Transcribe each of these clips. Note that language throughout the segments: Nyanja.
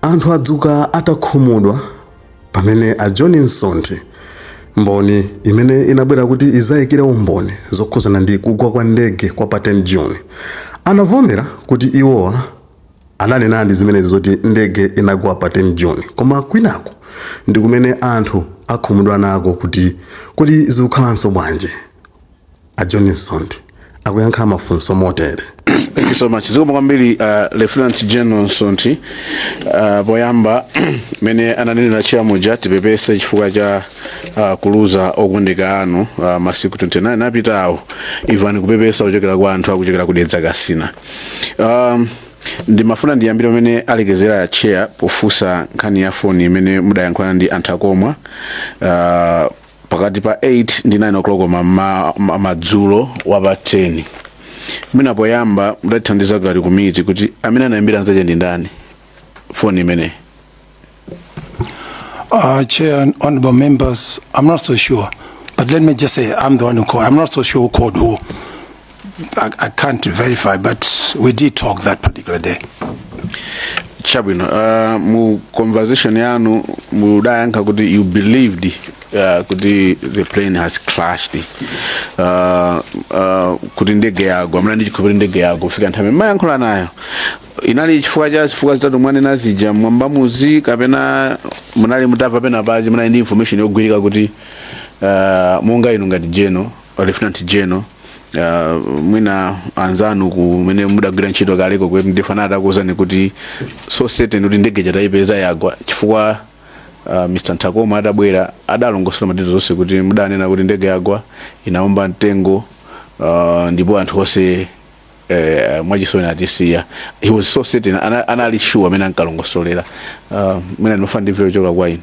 Anthu adzuka atakhumudwa pamene a John Nsonthi, mboni imene inabwera kuti izayikire umboni zokhuzana ndi kugwa kwa ndege kwa pa 10 June, anavomera kuti iwowa ananenadi zimenezi zoti ndege inagwa pa 10 June. Koma kwinako ndikumene anthu akhumudwa nako kuti kodi zikukhalanso bwanji? a John Nsonthi akuyankha mafunso motere Thank you so much. Zikomo kwambiri uh, Lieutenant General Nsonthi uh, poyamba mene ananenera chair muja tipepese chifukwa cha uh, kuluza okondeka anu uh, masiku 29 apitawo even kupepesa kuchokera kwa anthu akuchokera kudedza kasina um, ndimafuna ndiyambire pamene alekezera a chair pofunsa nkhani ya foni imene mudayankhulana ndi a Nthakomwa uh, pakati pa 8 ndi 9 o'clock ma- ma- ma- madzulo wa pa 10 mwina poyamba mutatithandiza ngati komiti kuti amene anayambira nzake ndi ndani foni imeneyi Uh, Chair and honorable members, I'm not so sure. But let me just say, I'm the one who called. I'm not so sure who called who. I, I can't verify, but we did talk that particular day. chabwino uh, mu conversation yanu mudayankha kuti you believed uh, kuti the plane has crashed uh, uh, kuti ndege yagwa mlandi chikho kuti ndege yagwa kufika nthawi mumayankhula nayo inali chifukwa cha zifukwa zitatu mwanena zija mwayamba muja kapena munali mutamva penapake munali ndi information yogwirika kuti uh, monga inu ngati General Lieutenant General uh, mwina anzanu kumene munkagwira ntchito kaleko kuti ndipo anali atakuwuzani kuti so certain kuti ndege yataipeza yagwa chifukwa uh, Mr. Nthakomwa adabwera adalongosola ma details zonse kuti mudanena kuti ndege yagwa inaomba mtengo uh, ndipo anthu onse eh, mwachisoni atisiya he was so certain ana- anali sure mmene ankalongosolera uh, mwina ndimafuna ndimvere kuchoka kwa inu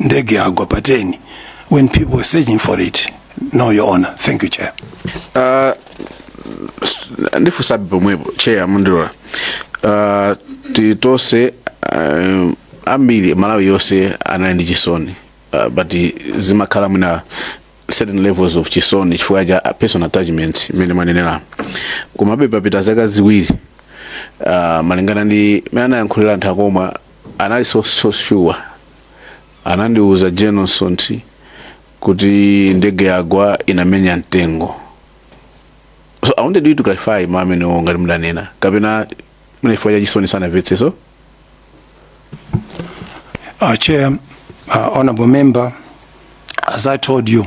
ndege yagwa pa 10 when people were searching for it no your honor thank you chair Uh, s- ndifunsabe pomwepo chair mundilola uh, tili tonse uh, ambiri malawi yonse anali ndi chisoni uh, but zimakhala mwina certain levels of chisoni chifukwa cha personal attachment imene mwanenera komabe papita zaka ziwiri uh, malingana ndi mene anayankhulira a Nthakomwa anali so so sure anandiuza General Nsonthi kuti ndege yagwa inamenya mtengo so i wanted you to clarify mau amenewo ngati mudanena kapena mwina chifukwa cha chisoni sanamvetse so Uh, Chair, uh, Honorable Member, as I told you,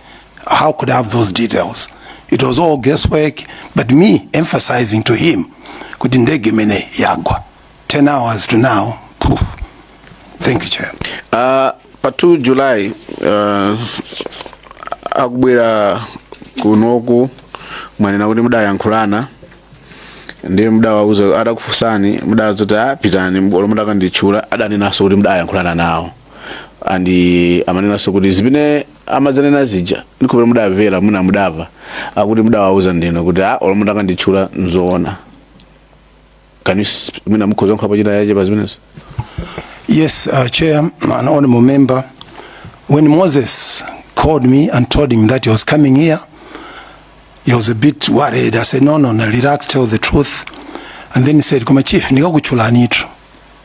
How could I have those details? It was all guesswork, but me emphasizing to him, kuti ndege imene yagwa. 10 hours to now. phew. Thank you, Chair. Uh, pa 2 July uh, akubwera kunoku mwanena kuti mudayankhulana ndi mudawauza adakufunsani mudawauza kuti a pitani olo mukakanditchula adanenanso kuti mudayankhulana nawo and amanenanso kuti zimene amadzanena zija ndikhulupirira mudamvera mwina mudamva akuti mudawauza ndinu kuti a olo mutakanditchula nzoona can you s- mwina mukhoza kuyikapo china chake pa zimenezo Yes, uh, Chair and Honorable Member, when Moses called me and told him that he was coming here, he was a bit worried. I said, no, no, no, relax, tell the truth. And then he said, Koma Chief, nikakutchulanitu.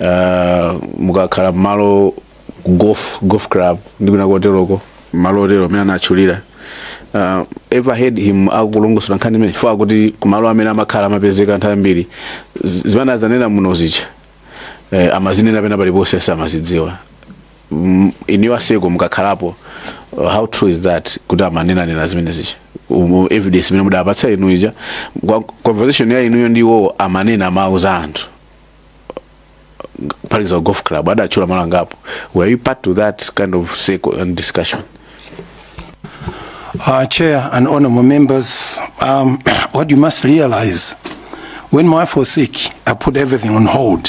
uh, mukakhala mmalo golf, golf club ndi kwina koteroko malo otero amene anatchulira uh, ever heard him akulongosola nkhani imene chifukwa akuti kumalo amene amakhala amapezeka nthawi zambiri zimene anadzanena muno zija eh, amazinena pena paliponse amazidziwa M- in your circle mukakhalapo uh, how true is that kuti amanenanena zimene zija umu evidence imene mudapatsa inu ija Kwa- conversation ya inuyo ndi iwowo amanena amauza anthu for example golf club adatchula malo angapo were you party to that kind of circle and discussion Uh, Chair and honorable members, um, what you must realize, when my wife was sick, I put everything on hold.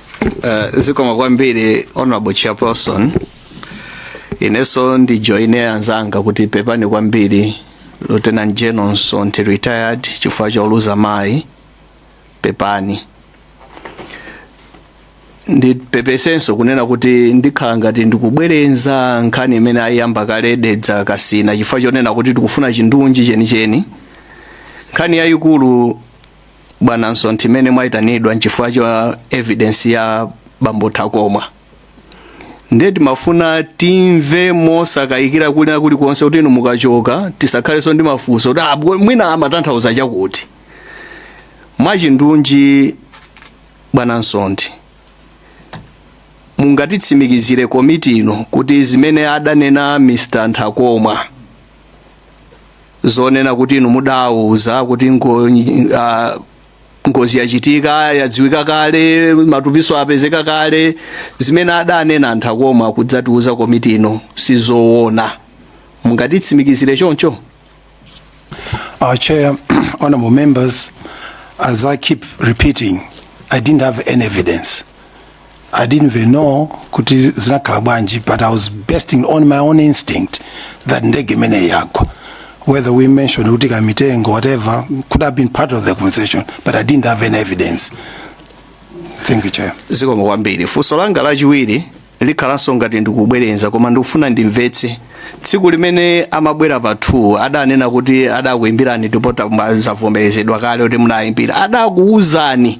Uh, zikomo kwambiri honorable chairperson inenso ndijoine anzanga kuti pepani kwambiri lieutenant general Nsonthi retired chifukwa choluza mayi pepani ndipepesenso kunena kuti ndikhala ngati ndikubwereza nkhani imene ayiyamba kale Dedza Kasina chifukwa chonena kuti tikufuna chindunji chenicheni nkhani yayikulu bwana nsonthi imene mwayitanidwira nchifukwa cha evidence ya bambo Nthakomwa ndiye timafuna timve mosakayikira kulina kulikonse kuti inu mukachoka tisakhalenso ndi mafunso kuti "Ah, bwe- mwina amatanthauza chakuti mwachindunji bwana nsonthi mungatitsimikizire komiti ino kuti zimene adanena Mr Nthakomwa zonena kuti inu mudawauza kuti ngo, ah, ngozi yachitika yadziwika kale matupinso apezeka kale zimene adanena a Nthakomwa kudzatiuza komiti ino sizoona mungatitsimikizire choncho Uh, Chair, honorable members, as I keep repeating, I didn't have any evidence. I didn't even know kuti zinakhala bwanji but I was basing on my own instinct that ndege imene yagwa whether we mentioned kuti kamitengo whatever could have been part of the conversation but I didn't have any evidence thank you chair zikomo kwambiri funso langa lachiwiri likhalanso ngati ndikubwereza koma ndikufuna ndimvetse tsiku limene amabwera pa 2 adanena kuti adakuimbirani ndipo zavomerezedwa kale kuti munayimbira adakuwuzani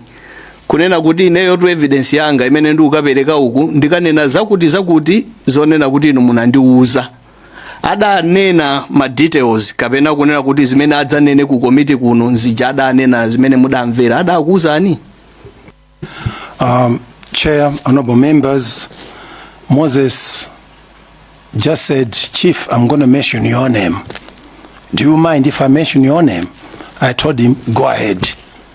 kunena kuti ineyo tu evidence yanga imene ndikukapereka uku ndikanena zakuti zakuti zonena kuti inu munandiuza adanena ma details kapena kunena kuti zimene adzanene ku komiti kuno nziti ja adanena zimene mudamvera adakuuzani Um, Chair, honorable members, Moses just said, Chief, I'm going to mention your name. Do you mind if I mention your name? I told him, go ahead.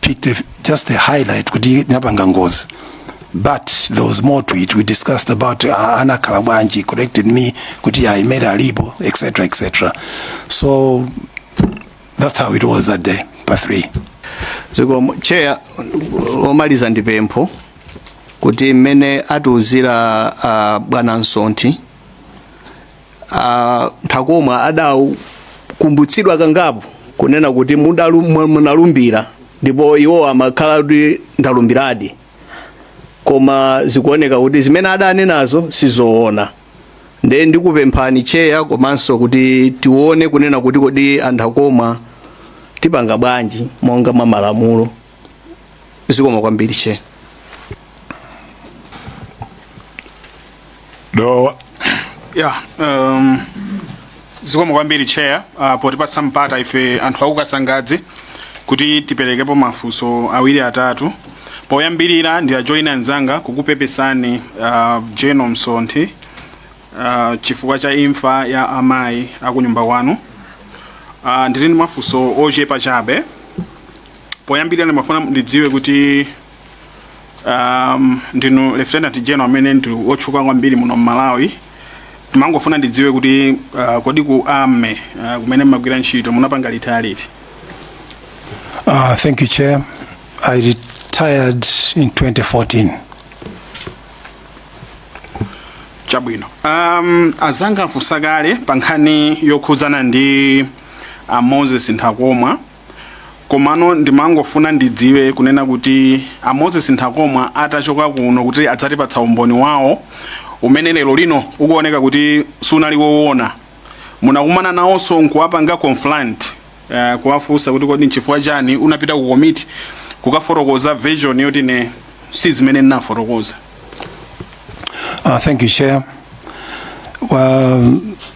picked just a highlight kuti napanga ngozi but there was more to it we discussed about uh, anakhala bwanji corrected me kuti aimere alipo etc etc so that's how it was that day pa 3 zikomo cheya omaliza ndi pempho kuti mmene atiuzira uh, bwana Msonthi a Nthakomwa adakumbutsidwa kangapo kunena kuti mudalu- mu- munalumbira ndipo iwo amakhala kuti ndalumbiradi koma zikuoneka kuti zimene adanenazo sizoona nde ndikupemphani cheya komanso kuti tione kunena kuti kodi a Nthakomwa tipanga bwanji monga mwa malamulo zikomo kwambiri che dowa ya um, zikomo kwambiri chair uh, potipatsa mpata ife anthu aku Kasangadzi kuti tiperekepo mafunso awiri atatu poyambirira ndiwajoyine anzanga kukupepesani uh, General Msonthi uh, chifukwa cha imfa ya amayi akunyumba kwanu uh, ndili ndi mafunso ochepa chabe poyambirira ndimafuna ndidziwe kuti um, ndinu lieutenant general amene ndi wotchuka kwambiri muno mmalawi ndimangofuna ndidziwe kuti uh, kodi ku army uh, kumene mmagwira ntchito munapanga retire liti Uh, thank you, Chair. I retired in 2014. chabwino um, anzanga afunsa kale pa nkhani yokhudzana ndi a moses nthakomwa komano ndimangofuna ndidziwe kunena kuti a moses nthakomwa atachoka kuno kuti adzatipatsa umboni wawo umene lero lino ukuoneka kuti sunali woona munakumana nawonso nkuwapanga confront uh, kuwafunsa kuti kodi nchifukwa chani unapita ku komiti kukafotokoza version yoti ne si zimene ndinafotokoza Uh, thank you, Chair. Well,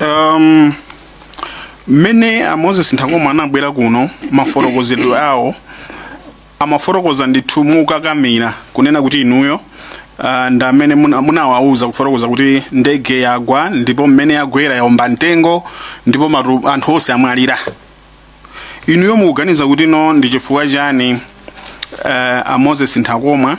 um, mmene a moses nthakomwa anabwera kuno mafotokozedwe awo amafotokoza ndithu mokakamira kunena kuti inuyo uh, ndi amene muna- munawauza kufotokoza kuti ndege yagwa ndipo mmene yagwera yaomba mtengo ndipo matu, anthu onse amwalira inuyo mukuganiza kuti no ndi chifukwa chani uh, a moses nthakomwa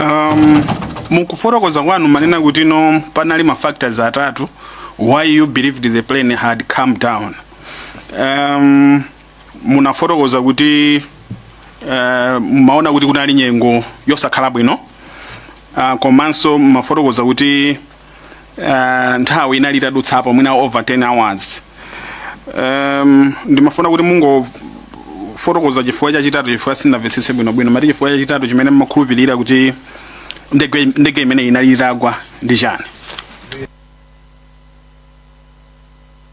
Um, mukufotokoza kwanu manena kuti no panali ma factors atatu why you believed the plane had come down um, munafotokoza kuti uh, mmaona kuti kunali nyengo yosakhala bwino uh, komanso mafotokoza kuti uh, nthawi inali itadutsapo mwina over 10 hours um, ndimafuna kuti mungofotokoza chifukwa chachitatu chifukwa sindinamvetsetse bwinobwino mati chifukwa chachitatu chimene mmakhulupirira kuti ndege imeneyi inali itagwa ndi chani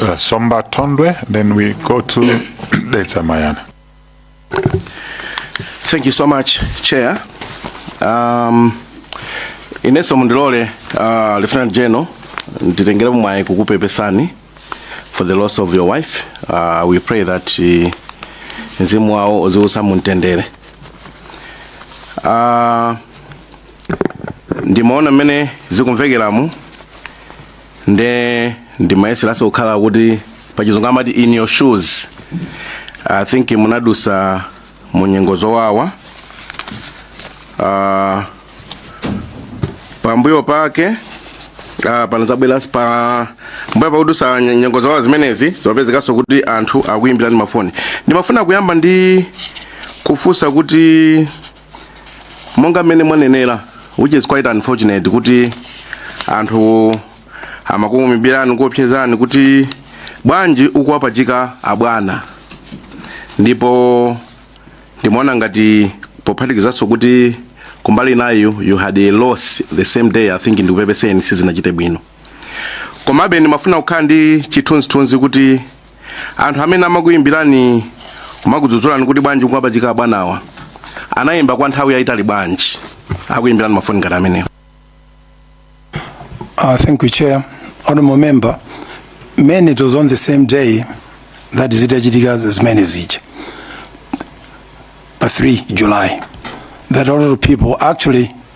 uh, Somba Tondwe, then we go to Deta Mayana. Thank you so much, Chair. Um, ineso mundilole uh, Lieutenant General nditengere mwayi kukupepesani for the loss of your wife. Uh, we pray that uh, mzimu wawo uziusa mumtendere. Uh, ndimaona mmene zikumvekeramu nde ndimayeseranso kukhala kuti pachizungu amati in your shoes i think munadusa mu nyengo zowawa uh, pambuyo pake uh, panazabwera pa mbuyo pakudusa nye- nyengo zowawa zimenezi zimapezekanso kuti anthu akuyimbirani mafoni ndimafuna kuyamba ndi kufunsa kuti monga mmene mwanenera which is quite unfortunate kuti anthu amakuyimbirani kuopsezani kuti bwanji ukuwapachika abwana ndipo ndimaona ngati pophatikizanso kuti kumbali inayo you had a loss the same day i think ndikupepeseni sizinachite bwino komabe ndimafuna kukhala ndi chithunzithunzi kuti anthu amene amakuyimbirani kumakudzudzulani kuti bwanji kuwapachika abwanawa anayimba kwa nthawi yayitali bwanji akuyimbirani mafoni ngati amenewo Uh, thank you, Chair. Honorable Member, I mean, it was on the same day that zitachitika zimenezi. But 3 July, that a lot of people actually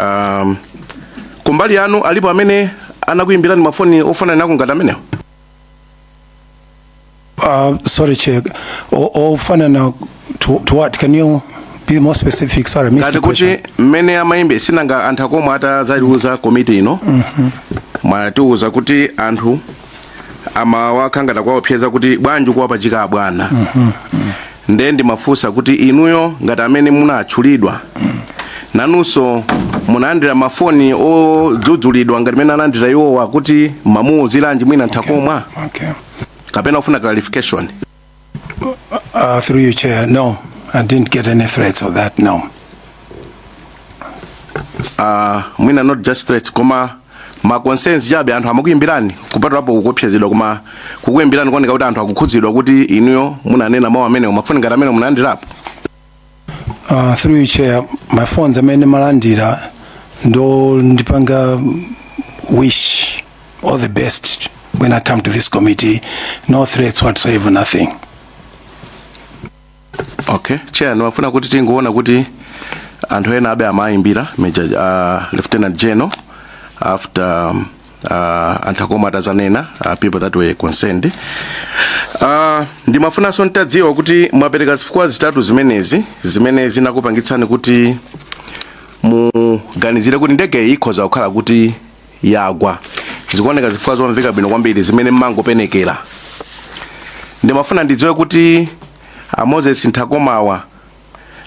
um, kumbali yanu alipo amene anakuyimbirani mafoni ofanana nako ngati amenewo Uh, sorry, Chair. O- Ofanana ndi, to what? Can you be more specific? Sorry, I missed ngati the kuti question. mmene amayimbe sinanga anthu a Nthakomwa atadzaiuza komiti ino mwatiuza kuti anthu amawaukha ngati akuwaopseza kuti bwanji ukuwapachika abwana nde ndimafunsa kuti inuyo ngati amene munatchulidwa nanunso munalandira mafoni odzudzulidwa ngati mene analandira iwowa kuti mumamuuziranji mwina nthakomwa okay. kapena ufuna clarification Uh, through you, Chair, no, I didn't get any threats of that, no. Uh, mwina not just threats koma ma concerns chabe anthu amakuyimbirani kupatulapo kuopsezedwa koma kukuyimbirani kuoneka kuti anthu akukhudzidwa kuti inuyo munanena mawu amenewo mafoni ngati amenewo munalandirapo Uh, through you chair my phones amene ndimalandira ndi ondipanga wish all the best when i come to this committee no threats whatsoever nothing okay chair ndimafuna kuti tingoona kuti anthu ena aja amayimbira major uh, lieutenant general after um, uh, a Nthakomwa atazanena uh, people that were concerned uh, ndimafunanso ntadziwa kuti mwapereka zifukwa zitatu zimenezi zimene zinakupangitsani kuti muganizire kuti ndege iyi ikhoza kukhala kuti yagwa zikuoneka zifukwa zomveka bwino kwambiri zimene mumangopenekera ndimafuna ndidziwe kuti a moses nthakomwa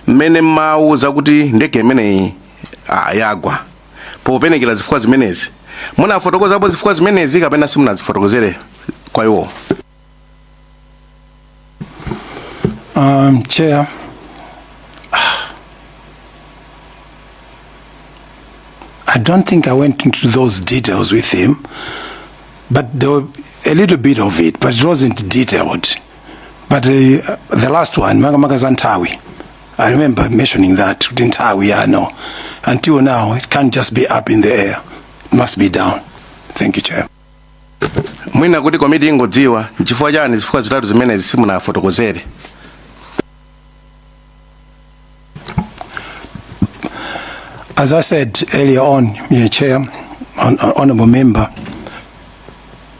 mmene mumawauza kuti ndege imeneyi ah, yagwa popenekera zifukwa zimenezi munafotokozapo zifukwa zimenezi kapena simunazifotokozere kwa iwo Um, chair. I don't think I went into those details with him, but there were a little bit of it, but it wasn't detailed. But uh, the last one, makamaka za nthawi. I remember mentioning that kuti nthawi, you know, until now it can't just be up in the air it must be down thank you chair mwina kuti komiti ingodziwa nchifukwa chani zifukwa zitatu zimenezi simunafotokozere As I said earlier on, Mr. Chair, hon- hon- Honourable Member,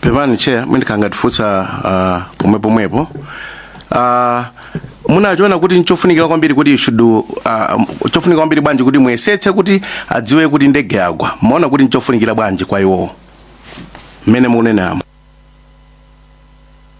pepani chair mundikangatifunsa uh, pomwe pomwepo uh, munachiona kuti nchofunikira kwambiri kuti should uh, chofunika kwambiri bwanji kuti muyesetse kuti adziwe kuti ndege yagwa mumaona kuti nchofunikira bwanji kwa iwowo mmene mukuneneramo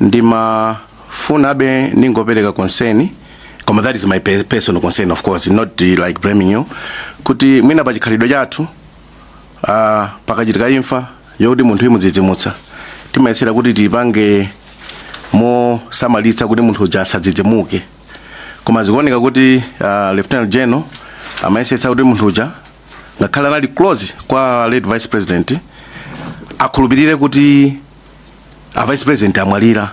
ndimafunabe ndingopereka concern koma that is my pe- personal concern of course not uh, like blaming you kuti mwina pa chikhalidwe chathu uh, pakachitika imfa yokuti munthu imudzidzimutsa timayesera kuti tipange mosamalitsa kuti munthu uja asadzidzimuke koma zikuoneka kuti uh, lieutenant general amayesetsa kuti munthu uja ngakhale anali close kwa late vice president akhulupirire kuti a vice president amwalira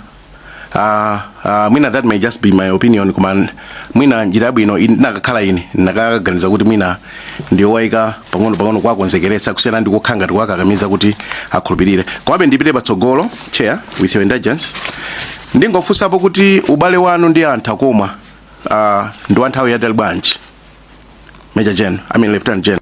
uh, uh, mwina that may just be my opinion koma mwina njira yabwino in- nakakhala ine nakaganiza kuti mwina ndiyowaika pang'ono pang'ono kuwakonzekeretsa kusiyana ndi kukhala ngati kuwakakamiza kuti akhulupirire komabe ndipite patsogolo chair with your indulgence ndingofunsapo kuti ubale wanu ndi a nthakomwa uh, ndi wa nthawi yatali bwanji major general i mean lieutenant general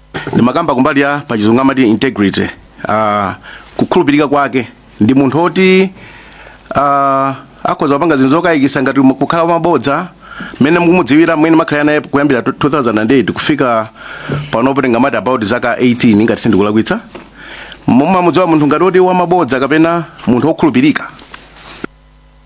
ndimakamba kumbali ya pachizungu amati integrity uh, kukhulupirika kwake ndi munthu oti uh, akhoza kupanga zinthu zokayikisa ngati mu- kukhala wamabodza mmene mukumudziwira mmene mwakhala naye kuyambira 2008 kufika panopo tingamati about zaka 18 ngati sindikulakwitsa mumamudziwa munthu ngati oti wamabodza kapena munthu wokhulupirika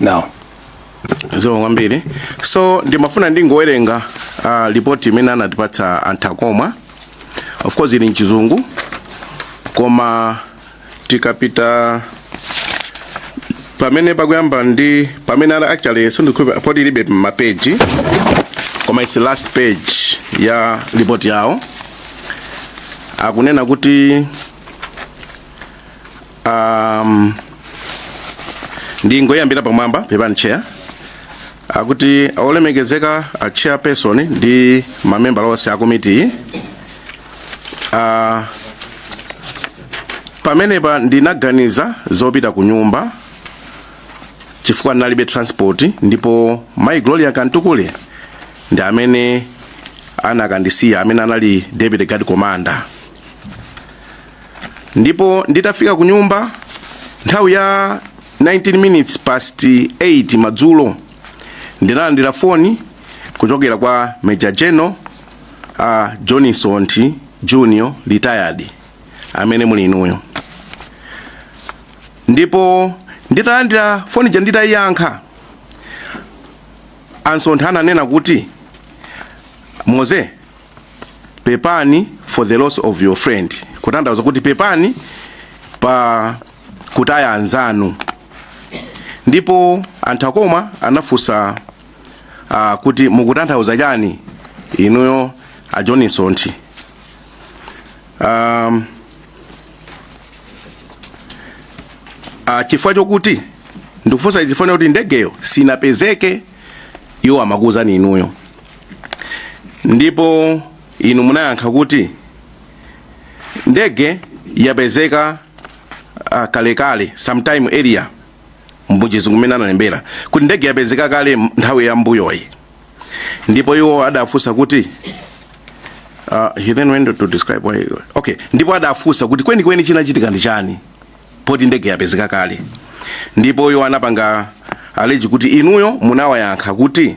now zikomo kwambiri so ndimafuna ndingowerenga uh, lipoti imene anatipatsa a nthakomwa of course ili mchizungu koma tikapita pamene pakuyamba ndi pamene ana actually sindikhupa poti ilibe mapeji koma its last page ya lipoti yawo akunena kuti um, ndingoyambira pamwamba pepani chair akuti olemekezeka a chairperson ndi mamembala onse a komitiyi uh, pamenepa ndinaganiza zopita ku nyumba chifukwa ndinalibe transport ndipo mai gloria kamtukule ndi amene anakandisiya amene anali deputy guard commander ndipo nditafika ku nyumba nthawi ya 19 minutes past 8 madzulo ndinalandira foni kuchokera kwa Major General uh, John Msonthi Junior retired amene muli inuyo ndipo nditalandira foni ja nditayiyankha a Msonthi ananena kuti moze pepani for the loss of your friend kutanthauza kuti pepani pa kutaya anzanu ndipo a Nthakomwa anafunsa uh, kuti mukutanthauza chani inuyo a john msonthi um, uh, chifukwa chokuti ndikufunsa chifukwa kuti ndegeyo sinapezeke iwo amakuwuzani inuyo ndipo inu munayankha kuti ndege yapezeka uh, kalekale sometime earlier mbuchizungu mmene analembera kuti ndege yapezeka kale m- nthawi ya mbuyoyi ndipo iwo adafunsa kuti uh, he then went to describe why okay ndipo adafunsa kuti kwenikweni chinachitika ndi chani poti ndege yapezeka kale ndipo iwo anapanga allege kuti inuyo munawayankha kuti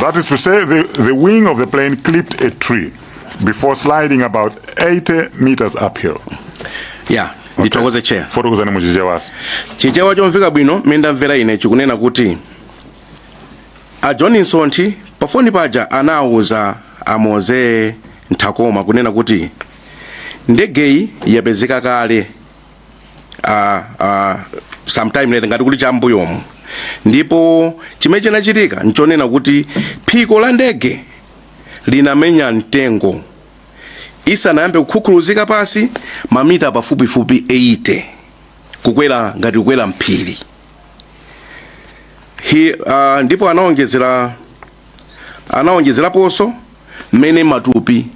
That is to say, the, the wing of the plane clipped a tree before sliding about 80 meters uphill. Yeah. ndithokoze chair fotokozani mu chichewanso chichewa chomveka bwino mmene ndamvera ine chikunena kuti a john msonthi pafoni paja anawuza a Moses Nthakomwa kunena kuti ndegeyi yapezeka kale uh, uh, sometime later ngati kuti cha mbuyomu ndipo chimene chinachitika nchonena kuti phiko la ndege linamenya mtengo isanayambe kukhukhuluzika pansi mamita pafupifupi 80 kukwera ngati kukwera mphiri He, uh, ndipo anaonjezera anaonjezeraponso mmene matupi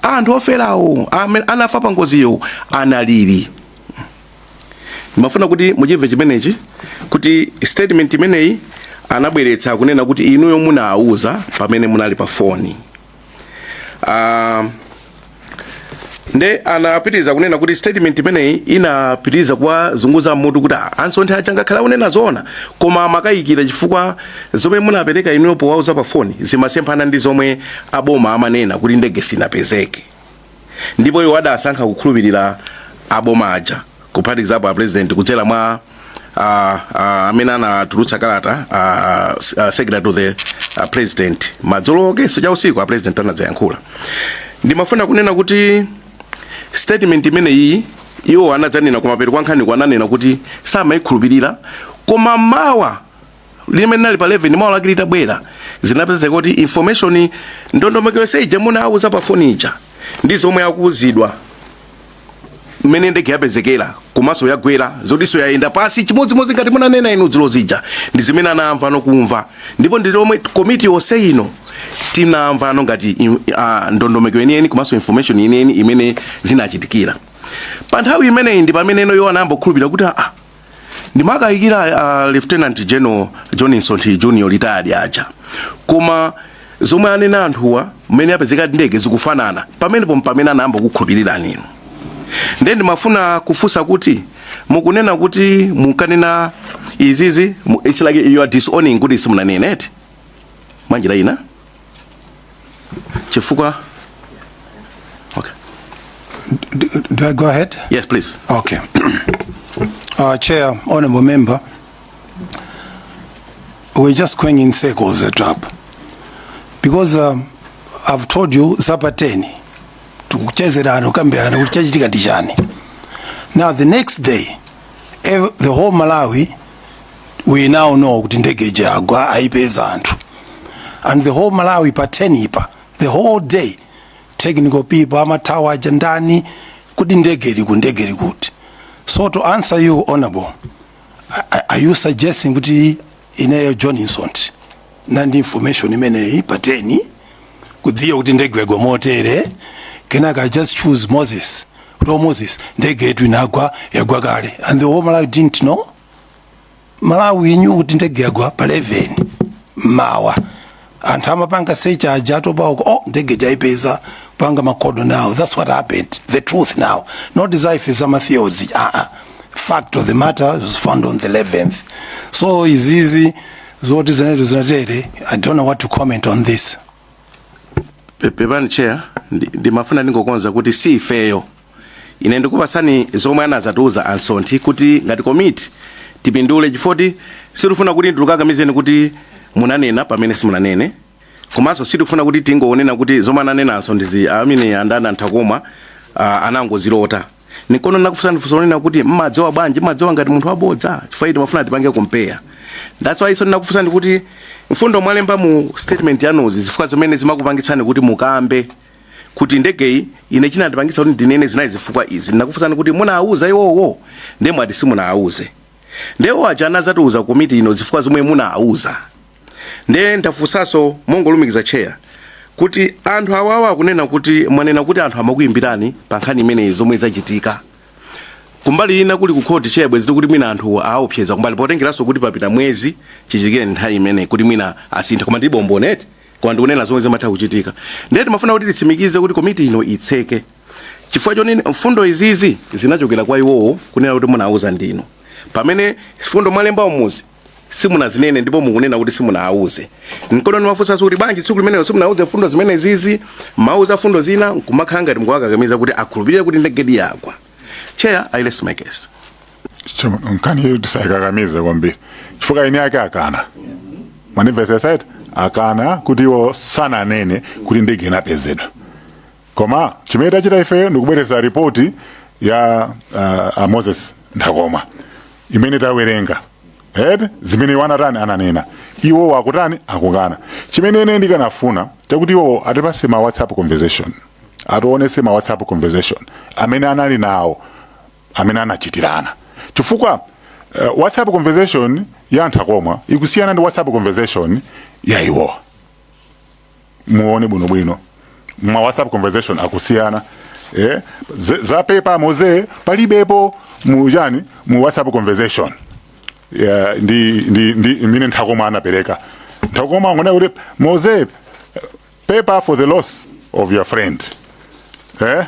anthu oferawo amene anafa pa ngoziyo analili ndimafuna kuti muchimve chimenechi kuti statement imeneyi anabweretsa kunena kuti inuyo munawuza pamene munali pa foni uh, nde anapitiriza kunena kuti statement imeneyi inapitiriza kuwazunguza mutu kuti "Ah, a Msonthi aja ngakhale akunena zoona koma amakayikira chifukwa Zomwe munapereka inuyo powauza pa foni zimasemphana ndi zomwe aboma amanena kuti ndege sinapezeke ndipo iwo adasankha kukhulupirira aboma aja kuphatikizapo a president kudzera mwa ah, ah, amene anatulutsa kalata ah, s- ah, secretary to the ah, president madzulo akenso cha usiku a president anadzayankhula ndimafuna kunena kuti statement imeneyi iwo anadzanena kumapeto kwa nkhani kwa ananena kuti samayikhulupirira koma mawa limene linali pa 11 mawa lake litabwera zinapezeka kuti information ndondomeko yonse ija munawauza pa foni ija ndi zomwe akuuzidwa mmene ndege yapezekera komanso yagwera zotinso yaenda pasi chimodzimodzi ngati munanena inu dzulo zija ndi zimene anamva nokumva ndipo ndi lomwe komiti yonse ino tinamvano ngati im- ah, ndondomeko yeniyeni komanso information yeniyeni imene zinachitikira pa nthawi imeneyi ndi pamene ino yo anayamba kukhulupirira kuti ah, ndimakayikira uh, lieutenant general john msonthi junior retired aja koma zomwe anena anthuwa mmene yapezekera ndege zikufanana pamenepo mpamene anayamba kukhulupirira nino ndiye ndimafuna kufunsa kuti mukunena kuti munkanena izizi mu- it's like you are disowning kuti simunanene eti mwanjira ina chifukwa okay. Do, do I go ahead? yes please Okay. Uh, Chair, Honorable Member, we're just going in circles at up. Because um, I've told you zapa 10 tikuchezerana kukambirana kuti chachitika ndi chani. Now the next day ev- the whole Malawi we now know kuti ndege ija yagwa ayipeza anthu and the whole malawi pa 10 pa the whole day technical people amathawa ujeni ndani kuti ndege ili kuti ndege ili kuti so to answer you honorable a- a- are you suggesting kuti ineyo john msonthi ndinali ndi information imeneyi pa 10 kudziwa kuti ndege yagwa motere kenaka i just choose moses hello moses ndege yetu inagwa yagwa kale and the whole malawi didn't know malawi knew kuti ndege yagwa pa 11 mmawa anthu amapanga search aja atopa uko oh ndege ija aipeza panga makodo now that's what happened the truth now not these are za ma theories uh -uh. fact of the matter was found on the 11th so izizi zoti zinetu zinatere i don't know what to comment on this Pe- pepani chair ndi- ndimafuna ndingokonza kuti si ifeyo ine ndikupatsani zomwe anadzatiuza a msonthi kuti ngati komiti tipindule chifukwa choti sitifuna kuti ndikukakamizeni kuti munanena pamene simunanene komanso sitifuna kuti tingonena kuti zomwe ananena a msonthi amene ndi a nthakomwa uh, anangozilota ndiye kono nakufunsani funso lonena kuti mmadziwa bwanji mmadziwa ngati munthu wabodza chifukwa timafuna tipange compare that's why so ndinakufunsani kuti mfundo mwalemba mu statement yanuzi zifukwa zimene zimakupangitsani kuti mukambe kuti ndegeyi ine chinandipangitsa kuti ndinene zinali zifukwa izi ndinakufunsani kuti munawauza iwowo ndiye mwati simunawauze nde iwo aja anadzatiuza komiti ino zifukwa zomwe munawauza ndiye ndafunsanso mongolumikiza chair kuti anthu awawa akunena kuti mwanena kuti anthu amakuyimbirani pa nkhani imeneyi zomwe zachitika kumbali ina kuli kukhoti chebwe ziti kuti mwina anthu awaopseza kumbali potengeranso kuti papita mwezi chichitikire nthawi imeneyi kuti mwina asintha koma ndi mboni eti koma ndikunena zomwe zimatha kuchitika ndiye timafuna kuti titsimikize kuti komiti ino itseke chifukwa choti mfundo izizi zinachokera kwa iwowo kunena kuti munawauza ndinu pamene mfundo mwalemba umuzi simunazinene ndipo mukunena kuti simunawauze nkono nimafunsanso kuti bwanji tsiku limenelo simunawauze mfundo zimenezizi mmawauza mfundo zina nkumakhala ngati mukuwakakamiza kuti akhulupirire kuti ndegedi yagwa Chair, I rest my case. nkhani iyo tisayikakamize kwambiri chifukwa eni ake akana mwanimvesesa eti akana kuti iwo sananene kuti ndege inapezedwa koma chimene tachita ifeyo ndikubweretsa ripoti ya uh, a Moses Nthakomwa imene tawerenga eh zimene iwo anatani ananena iwowo akutani akukana chimene ine ndikanafuna chakuti iwowo atipase ma whatsapp conversation atiwonese ma whatsapp conversation amene anali nawo amene anachitirana chifukwa uh, whatsapp conversation ya a Nthakomwa ikusiyana ndi whatsapp conversation ya iwowa muone bwinobwino ma whatsapp conversation akusiyana eh? Z- za pepa Mose palibepo mu chani mu whatsapp conversation yeah, ndi, ndi, ndi imene Nthakomwa anapereka Nthakomwa angonena kuti Mose pepa for the loss of your friend eh?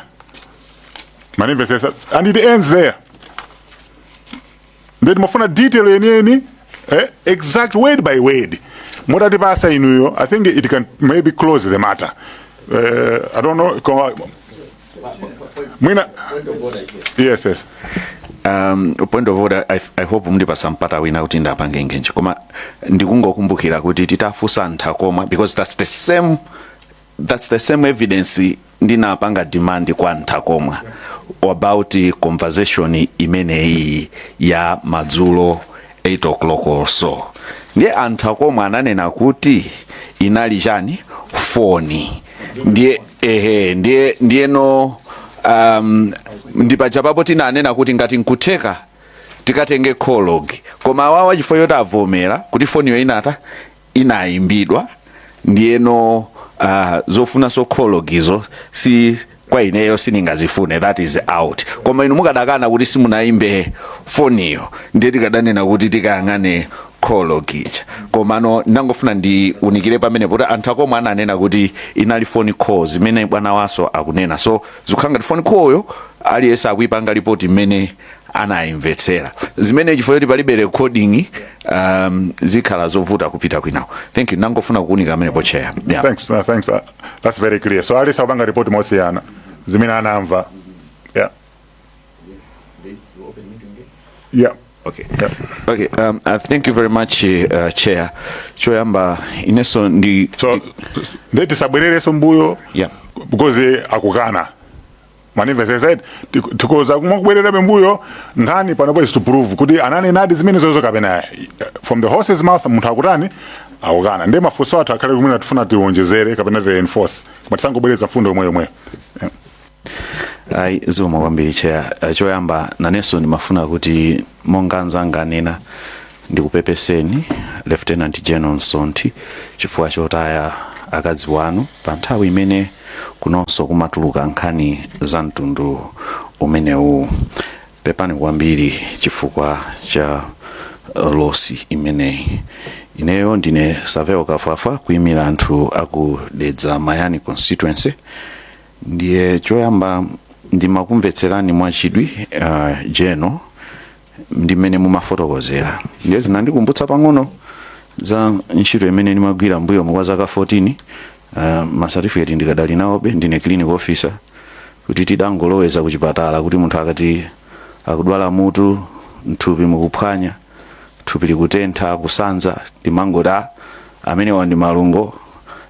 mwanimvesesa and it ends there ndiye timafuna detail yeniyeni eh, exact word by word mutatipasa inuyo i think it can maybe close the matter uh, i don't know koma- mwina yes yes um, point of order I, i hope mndipasa mpata wina kuti ndiwapange engage koma ndikungokumbukira kuti titafusa Nthakomwa because that's the same that's the same evidence ndinapanga demand kwa a Nthakomwa about conversation imeneyi ya madzulo 8 o'clock or so ndiye a Nthakomwa ananena kuti inali chani foni ndiye ehe ndiye ndiyeno um, ndipaja papo tinanena kuti ngati nkutheka tikatenge call log koma awawa chifukwa choti avomera kuti foniyo inata inayimbidwa ndiyeno uh, zofunanso call logizo si kwa ineyo sindingazifune that is out koma inu mukadakana kuti simunayimbe foniyo ndiye tikadanena kuti tikayang'ane call log ija komano ndangofuna ndiunikire pamenepo kuti a Nthakomwa ananena kuti inali phone call zimene bwanawaso akunena so zikukhala ngati phone callyo aliyense akuyipanga lipoti mmene anayimvetsera zimene chifukwa choti palibe recording um, zikhala zovuta kupita kwinako thank you nangofuna kuunika pamenepo Chair yeah. thanks uh, thanks uh, that's very clear so aliyense akupanga ripoti mosiyana zimene anamva yeah yeah Okay. Yeah. Okay. Um, uh, thank you very much uh, chair choyamba ineso ndi so nde tisabwerereso mbuyo yeah. because akukana mandimvetsetse tik- tikoza kumabwerera pambuyo nkhani panopo is to prove kuti ananenadi zimene zozo kapena eh, from the horse's mouth munthu akutani akukana ndi mafunso athu akhale kumene tifuna tiwonjezere kapena tireinforce koma tisangobwereza mfundo yomwe yomweyo Eh. ayi zikomo kwambiri cheya Eh, choyamba nanenso ndimafuna kuti monga anzanga anena Ndikupepeseni Lieutenant General Nsonthi chifukwa chotaya akazi wanu pa nthawi imene kunonso kumatuluka nkhani za mtundu umenewu. Pepani kwambiri chifukwa cha uh, losi imeneyi. Ineyo ndine Savel Kafwafwa kuimira anthu aku Dedza Mayani constituency. Ndiye choyamba ndimakumvetserani mwachidwi uh, General ndi mmene mumafotokozera ndiye zinandikumbutsa pang'ono za ntchito imene ndimagwira mbuyomu kwa zaka 14 uh, masatifiketi ndikadali nawobe ndine clinical officer kuti tidangolowera ku chipatala kuti munthu akati akudwala mutu mthupi mukuphwanya thupi likutentha kusanza timangoti "Ah, amenewa ndi malungo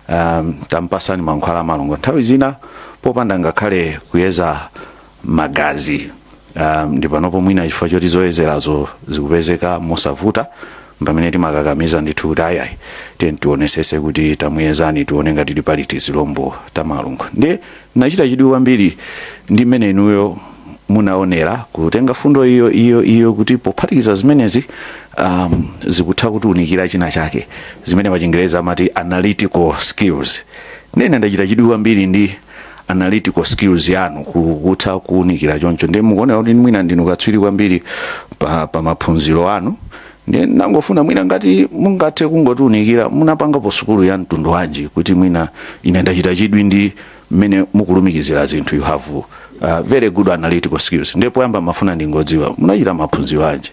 um, tampasani mankhwala a malungo nthawi zina popanda ngakhale kuyeza magazi um, ndiye panopo mwina chifukwa choti zoyezerazo zikupezeka mosavuta pamene timakakamiza ndithu kuti ayi ayi ayi tionesese kuti tamuyezani tione ngati tili pali tizilombo ta malungo ndiye nachita chidwi kwambiri ndi mmene inuyo munaonera kutenga mfundo iyo iyo iyo kuti pophatikiza zimenezi um, zikutha kutiunikira china chake zimene pachingereza amati analytical skills ndiye ndachita chidwi kwambiri ndi analytical skills yanu ku- kutha kuunikira choncho ndiye mukuoneka kuti mwina ndinu katswiri kwambiri pa, pa maphunziro anu ndiye ndangofuna mwina ngati mungathe kungotiunikira munapangapo sukulu ya mtundu wanji kuti mwina ine ndachita chidwi ndi mmene mukulumikizira zinthu you have uh, very good analytical skills ndiye poyamba mafuna ndingodziwa munachita maphunziro anji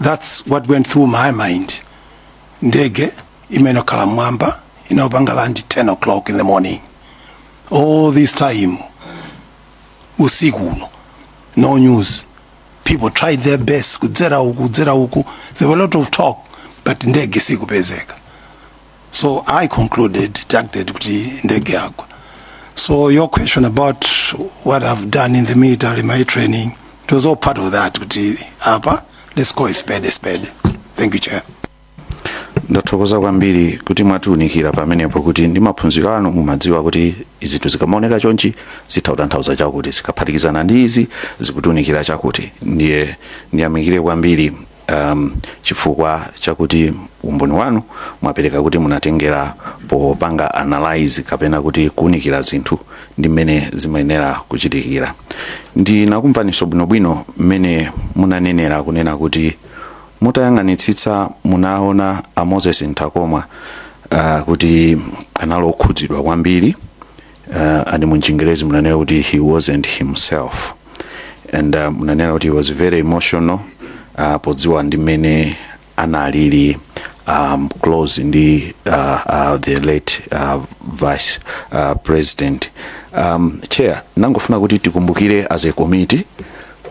That's what went through my mind. Ndege singakhale m'mwamba imayenera kupanga land 10 o'clock in the morning. All this time usiku uno no news. People tried their best kudzera uku kudzera uku. There were a lot of talk but ndege sikupezeka. so i concluded deducted kuti ndege yagwa so your question about what i've done in the military my training it was all part of that kuti apa let's call a spade a spade thank you chair ndathokoza kwambiri kuti mwatiunikira pamenepo kuti ndi maphunziro anu mumadziwa kuti zinthu zikamaoneka chonchi zitha kutanthauza chakuti zikaphatikizana ndi izi zikutiunikira chakuti ndiye ndiyamikire kwambiri um, chifukwa chakuti umboni wanu mwapereka kuti munatengera popanga analyze kapena kuti kuunikira zinthu ndi mmene zimayenera kuchitikira ndinakumvaniso bwinobwino mmene munanenera kunena kuti mutayang'anitsitsa munaona a Moses Nthakomwa uh, kuti anali okhudzidwa kwambiri uh, and mu Chingerezi munanena kuti he wasn't himself and uh, munanena kuti he was very emotional uh, podziwa ndi mmene analili um, close ndi uh, uh, the late uh, vice uh, president um, chair ndangofuna kuti tikumbukire as a committee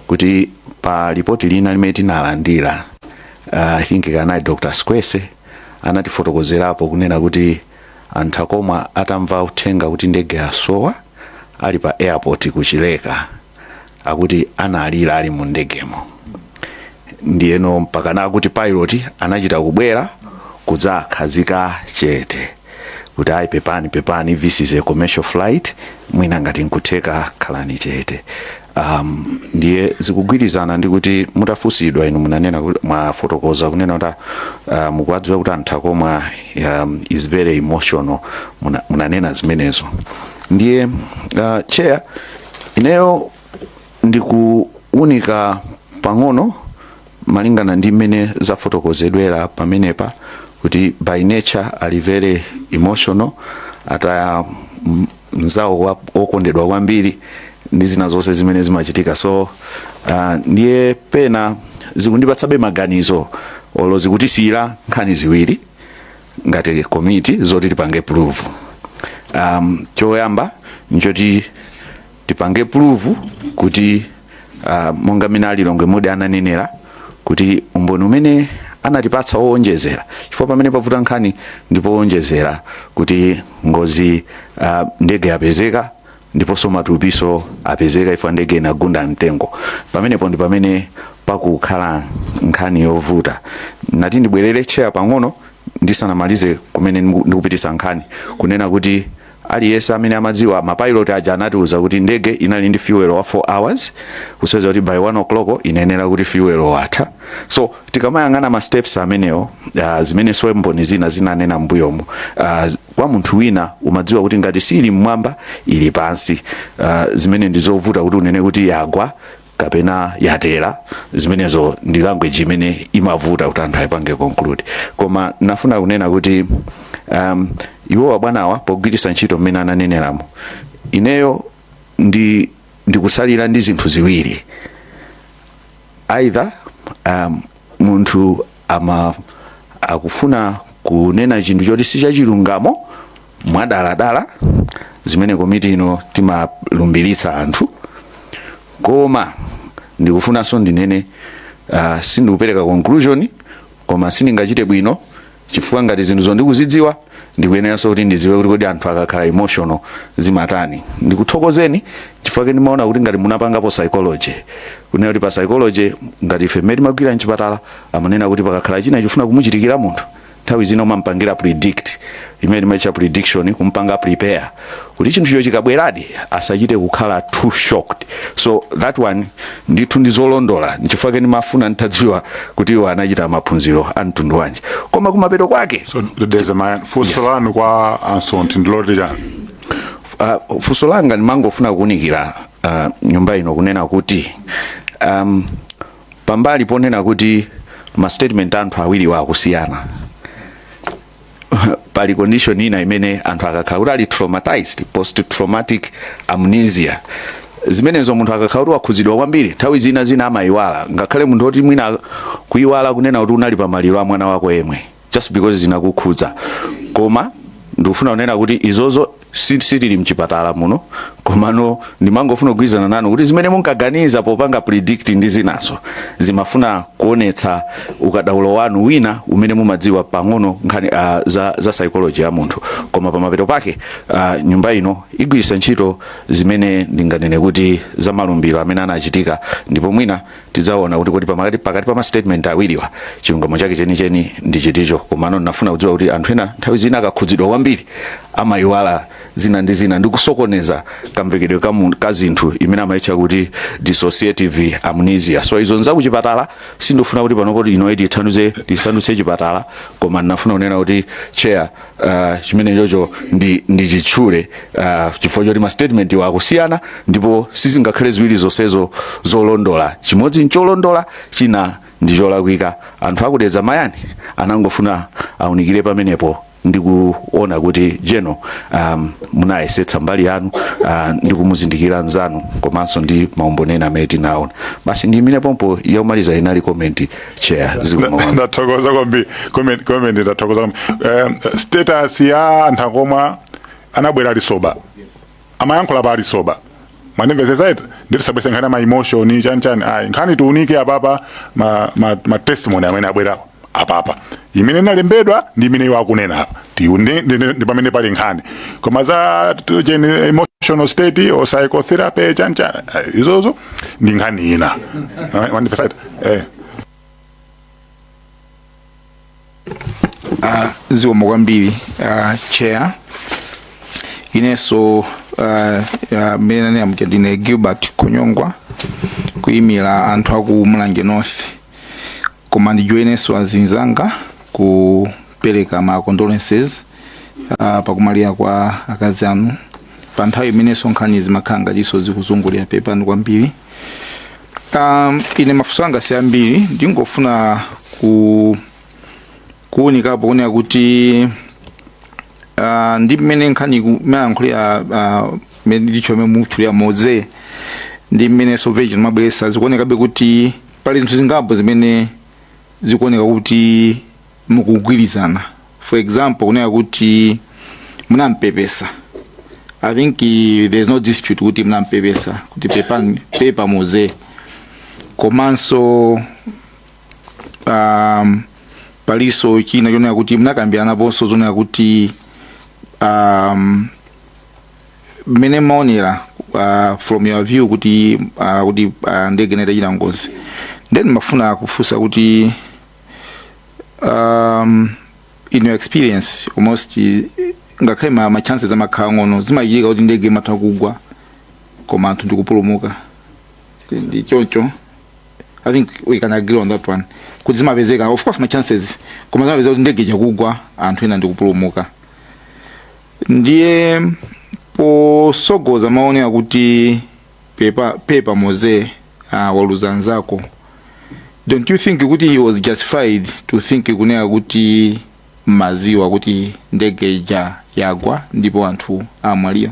kuti pa lipoti lina limene tinalandira uh, i think kanali dr squese anatifotokozerapo kunena kuti A Nthakomwa atamva uthenga kuti ndege yasowa ali pa airport ku Chileka akuti analira ali mu ndegemo ndiyeno mpaka nakuti pilot anachita kubwera kudzakhazika chete kuti ayi pepani pepani this is a commercial flight mwina ngati nkutheka khalani chete Um, ndiye zikugwirizana ndi kuti mutafunsidwa inu munanena kuti- mwafotokoza kunena kuti uh, mukuwadziwa kuti a Nthakomwa um, is very emotional Muna- munanena zimenezo ndiye uh, chair ineyo ndikuunika pang'ono malingana ndi mmene zafotokozedwera pamenepa kuti by nature ali very emotional ataya m- mzawo wa- wokondedwa kwambiri ndi zina zonse zimene zimachitika so uh, ndiye pena zikundipatsabe maganizo olo zikutisiyira nkhani ziwiri ngati komiti zoti tipange prove um, choyamba nchoti tipange prove kuti Uh, monga mmene a Lilongwe Mudi ananenera kuti umboni umene anatipatsa woonjezera chifukwa pamene pavuta nkhani ndipo woonjezera kuti ngozi uh, ndege yapezeka ndiponso matupiso apezeka chifukwa ndege inagunda mtengo pamenepo ndi pamene pakukhala nkhani yovuta nati ndibwerere chair pang'ono ndisanamalize kumene ndiku- ndikupitisa nkhani kunena kuti Aliyese amene amadziwa ma pilot aja anatiuza kuti ndege inali ndi fuel wa 4 hours kusonyeza kuti by 1 o'clock inayenera kuti fuel watha so tikamayang'ana ma steps amenewo uh, zimene so mboni zina zinanena mbuyomu uh, kwa munthu wina umadziwa kuti ngati siili mmwamba ili pansi uh, zimene ndizovuta kuti unene kuti yagwa kapena yatera zimenezo ndi language imene imavuta kuti anthu ayipange conclude koma nafuna kunena kuti um, iwo abwanawa pogwiritsa ntchito mmene ananeneramo ineyo ndi ndikutsalira ndi zinthu ziwiri either um, munthu ama akufuna kunena chinthu choti si chachilungamo mwadaladala zimene komiti ino timalumbiritsa anthu koma ndikufunanso ndinene uh, sindikupereka conclusion koma sindingachite bwino chifukwa ngati zinthu zoti ndikuzidziwa ndikuyeneranso kuti ndidziwe kuti kodi anthu akakhala emotional zimatani ndikuthokozeni chifukwa chake ndimaona kuti ngati munapangapo psychology kunena kuti pa psychology ngati ife mmene timagwira mchipatala amanena kuti pakakhala china chofuna kumuchitikira munthu nthawi zina umampangira predict imene timaitcha prediction kumpanga prepare kuti chinthucho chikabweradi asachite kukhala too shocked so that one ndithu ndi zolondola nchifukwa chake ndimafuna nditadziwa kuti iwo anachita maphunziro a mtundu wanji koma kumapeto kwake so Mr Chairman funso lanu kwa a Msonthi ndiloti chani uh, funso langa ndimangofuna kuunikira uh, nyumba ino kunena kuti um, pambali ponena kuti ma statement a anthu awiriwa akusiyana pali condition ina imene anthu akakhala kuti ali traumatized post traumatic amnesia zimenezo munthu akakhala kuti wakhudzidwa kwambiri nthawi zina zina amayiwala ngakhale munthu oti mwina kuyiwala kunena kuti unali pa maliro a mwana wako yemwe just because zinakukhudza koma ndikufuna kunena kuti izozo si- sitili mchipatala muno komano ndimangofuna kugwirizana nanu kuti zimene munkaganiza popanga predict ndi zinazo zimafunika kuonetsa ukadaulo wanu wina umene mumadziwa pang'ono nkhani uh, za, za psychology ya munthu koma pamapeto pake uh, nyumba ino igwiritsa ntchito zimene ndinganene kuti za malumbiro amene anachitika ndipo mwina tidzaona kuti kodi pa- pakati pa mastatement awiriwa chilungamo chake chenicheni ndi chiticho komano ndinafuna kudziwa kuti anthu ena nthawi zina akakhudzidwa kwambiri amayiwala zina ndi zina ndi kusokoneza kamvekedwe ka mu- ka zinthu imene amayitcha kuti dissociative amnesia so izo nzakuchipatala sindifuna kuti pano komiti ino itithandize tisandutse chipatala koma ndinafuna kunena kuti chair uh, chimene chocho ndi, ndi ndichitchule uh, chifukwa choti ma statementwa akusiyana ndipo sizingakhale ziwiri zonsezo zolondola chimodzi ncholondola china ndi cholakwika kwa inu achitetezo mayi nangofuna ndiunikire pamenepo ndikuona kuti jeno um, munayesetsa mbali yanu uh, ndi kumuzindikira nzanu komanso ndi maumboni ena amene tinaona basi ndiyimire pompo yomaliza inali komenti chair zikomo ndathokoza kwambiri comment comment ndathokoza kwambiri um, status ya anthu akomwe anabwera ali soba amayankhula pa ali soba mwandimvesesa eti tisabwese nkhani ma emotion chani chani ayi nkhani tiunike apapa ma, ma, ma testimony amene abwera apapa imene inalembedwa ndi imene iwo akunena apa Tiune- ndi- ndi- ndi pamene pali nkhani koma za t- cheni emotional state or psychotherapy chani chani ayi, izozo ndi nkhani ina Eh, mwandimvesa eti eh zikomo kwambiri uh, chair inenso uh, uh, mmene nanena muja ndine gilbert konyongwa kuyimira anthu aku mulanje north koma ndijoinenso azinzanga kupereka ma condolences uh, pakumwalira kwa akazi anu pa nthawi imenenso nkhani zimakhala ngatinso zikuzungulira pepani kwambiri um, ine mafunso anga si ambiri ndingofuna ku kuunikapo kunena kuti uh, ndi mmene nkhani imayankhulira uh, mmene ndicho mmene mukutchulira moze ndi mmene soveji amabweresa zikuonekabe kuti Pali zinthu zingapo zimene zikuoneka kuti mukugwirizana. For example, kunena kuti munampepesa. I think eh, there is no dispute kuti munampepesa kuti pepani pepa Moze. Komanso um, palinso china chonena kuti munakambiranaponso zonena kuti um, mmene mmaonera uh, from your view kuti uh, kuti uh, ndege inachita ngozi then ndimafuna kufunsa kuti um, in your experience almost eh, ngakhale ma, ma chances amakhala ang'ono zimachitika kuti ndege imatha kugwa koma anthu ndikupulumuka ndi choncho i think we can agree on that one kuti zimapezeka of course ma chances koma zimapezeka kuti ndege itha kugwa anthu ena ndikupulumuka ndiye posogoza mmaonera kuti pepa, pepa moze uh, waluza nzako don't you think kuti he was justified to think kunena kuti mmaziwa kuti ndege ija yagwa ndipo anthu amwalira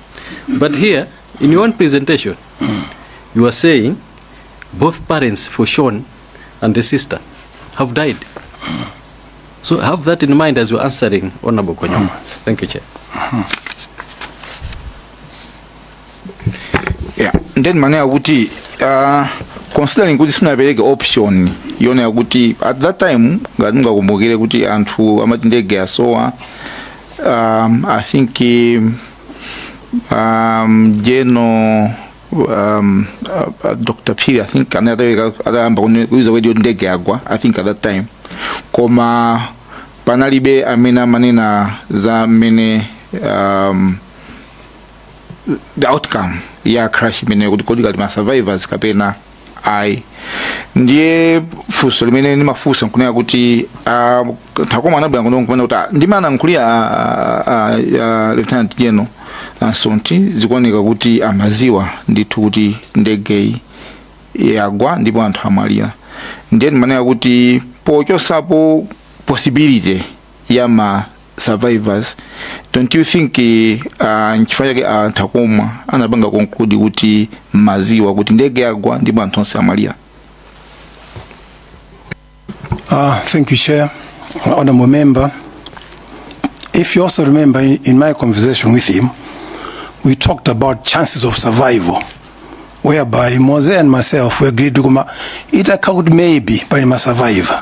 But here, in your own presentation, you are saying both parents for Sean and the sister have died. So have that in mind as you're answering Honorable Konyama. Thank you, Chair. Yeah. Then manena kuti uh, considering kuti simunapereke option yonena kuti at that time ngati mungakumbukire kuti anthu amati ndege asowa Um, I think um, um, General um, uh, uh, Dr. Phiri, I think anatha atayamba kuni- kuiza kuti ndege yagwa, I think at that time. Koma panalibe amene amanena za mmene um, the outcome ya crash imeneyo kuti kodi kuli ma survivors kapena ayi ndiye funso limene ndimafunsa nkunena kuti ah, nthakomwa anabwera kuno nkumanena kuti ah, ndi mmene analankhulira ah, ah, ah, lieutenant general a msonthi zikuoneka kuti amaziwa ndithu kuti ndegeyi yagwa ndipo anthu amwalira ndiye ndimanena kuti pochosapo possibility ya ma survivors don't you think uh, nchifukwa chake anthu akumwa anapanga conclude kuti maziwa kuti ndege yagwa ndipo anthu onse amwalira Uh, thank you, Chair. Honorable Member, if you also remember in, in my conversation with him, we talked about chances of survival, whereby Mose and myself we agreed to come, it occurred maybe by my survivor.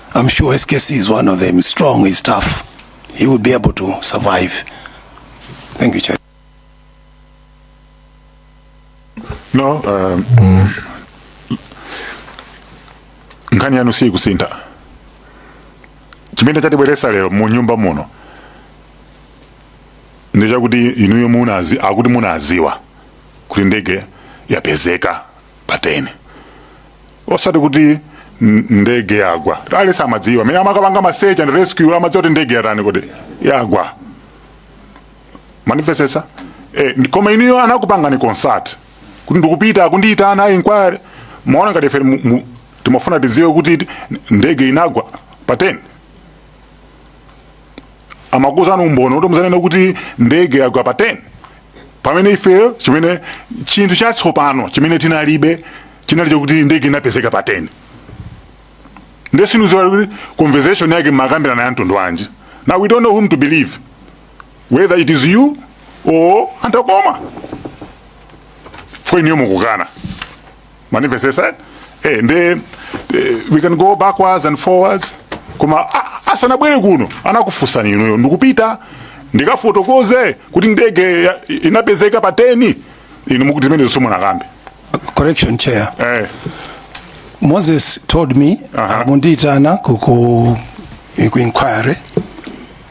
I'm sure SKC is one of them. Strong, he's tough. He would be able to survive. Thank you, Chair. No, um, nkhani yanu sikusintha chimene chatibweresa lero mu nyumba muno ndi chakuti inuyo munazi akuti munaziwa kuti ndege yapezeka pa 10 osati kuti ndege yagwa ali samadziwa amene amakapanga ma search and rescue amadziwa kuti ndege yatani kodi yagwa mwandimvesesa eh, koma inuyo anakupangani consult kuti ndikupita akundiyitana a inquiry mwaona ngati ife timafuna tidziwe kuti ndege inagwa pa 10 amakuuzani umboni kuti muzanene kuti ndege yagwa pa 10 pamene ifeyo chimene chinthu chatsopano chimene tinalibe chinali chokuti ndege inapezeka pa 10 nde sindikuziwa kuti conversation yake mumakambirana ya mtundu wanji now we don't know whom to believe whether it is you or a nthakomwa chifukwa inuyo mukukana mwandimvesesa eh, nde eh, we can go backwards and forwards koma asanabwere kuno anakufunsani inuyo ndikupita ndikafotokoze kuti ndege inapezeka pa 10 inu mukuti zimenezo simunakambe correction chair eh. moses told me uh -huh. akundiyitana ku inquiry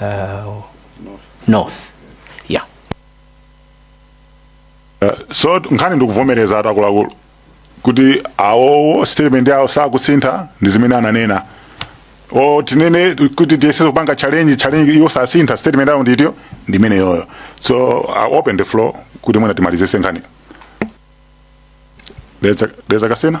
uh, north yeah so nkhani ndikuvomerezatu akuluakulu kuti awowo statement yawo sakusintha ndi zimene ananena o tinene kuti tiyese kupanga challenge challenge iwo sasintha statement yawo nditiyo ndi imeneyoyo so i open the floor kuti mwina timalizise nkhani dedza kasina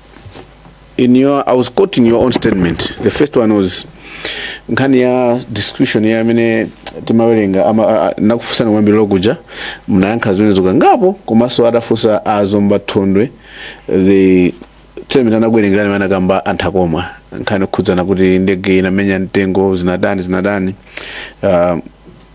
in your i was quoting your own statement the first one was nkhani ya description ya amene timawerenga ama- a- a- nakufunsani kumayambiriro kuja munayankha zimenezo kangapo komanso adafunsa a zomba thondwe the statement anakuwerengerani amene anakamba a nthakomwa nkhani yokhudzana kuti ndege inamenya mtengo zinatani zinatani uh,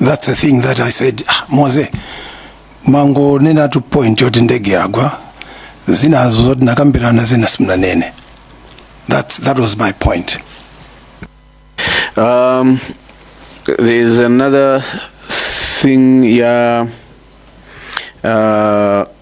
that's the thing that i said ah, moze mangonenatu point yoti ndege yagwa zinazo zoti nakambirana zina simunanene that's, that was my point Um, there's another thing, yeah. Uh,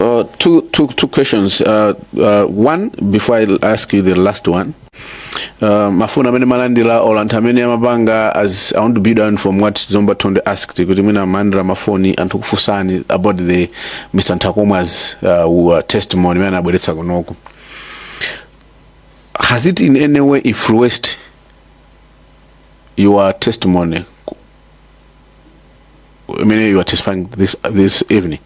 Uh, two, two, two questions. Uh, uh, one, before I ask you the last one, uh, mafoni amene malandira or anthu amene amapanga as I want to build on from what Zomba Thondwe asked kuti mwina malandira mafoni anthu kufunsani about the Mr. Nthakomwa's uh, uh, testimony amene anabweretsa kunoku. Has it in any way influenced your testimony imene you are testifying this, this evening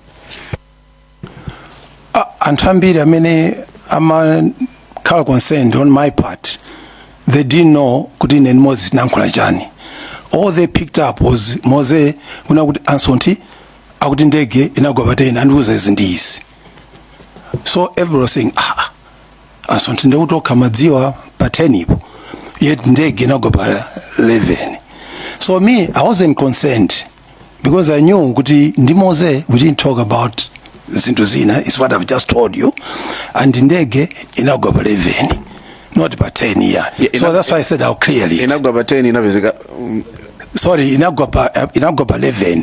A- anthu ambiri amene amakhala concerned on my part they didn't know kuti ine ndi moze tinankhula chani all they picked up was moze kunena kuti a Nsonthi akuti ndege inagwa pa 10 andiuza izi ndi izi so everybody was saying ah ah, a Nsonthi ndekuti okha amadziwa pa 10po yet ndege inagwa pa 11 so me i wasn't concerned because i knew kuti ndi Moze we didn't talk about zinthu zina is what i've just told you and ndege inagwa pa 11 not pa 10 yeah, Yeah, so ina- that's why i said i'll clear it inagwa pa 10 inapezeka mm, sorry inagwa pa inagwa pa 11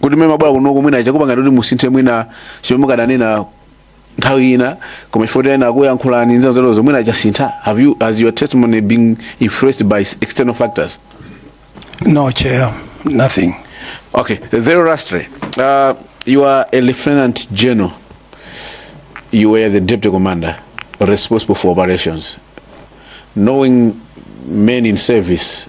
kuti mmene mabwera kunoko mwina chakupangani kuti musinthe mwina chimene mukadanena nthawi ina koma chifukwa ena akuyankhulani ndi zina zoterozo mwina chasintha have you has your testimony been influenced by external factors No, Chair, nothing. Okay, very lastly, uh, you are a lieutenant general. You were the deputy commander responsible for operations. Knowing men in service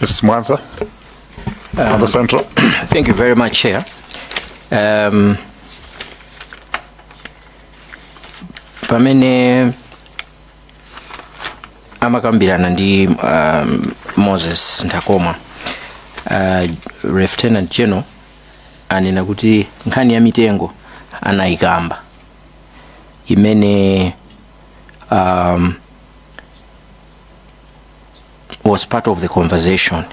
Yes, Mwanza. Mwanza Central. Thank you very much, Chair. Um, pamene amakambirana ndi um, Moses Nthakomwa uh, Lieutenant General anena kuti nkhani ya mitengo anayikamba imene um, was part of the conversation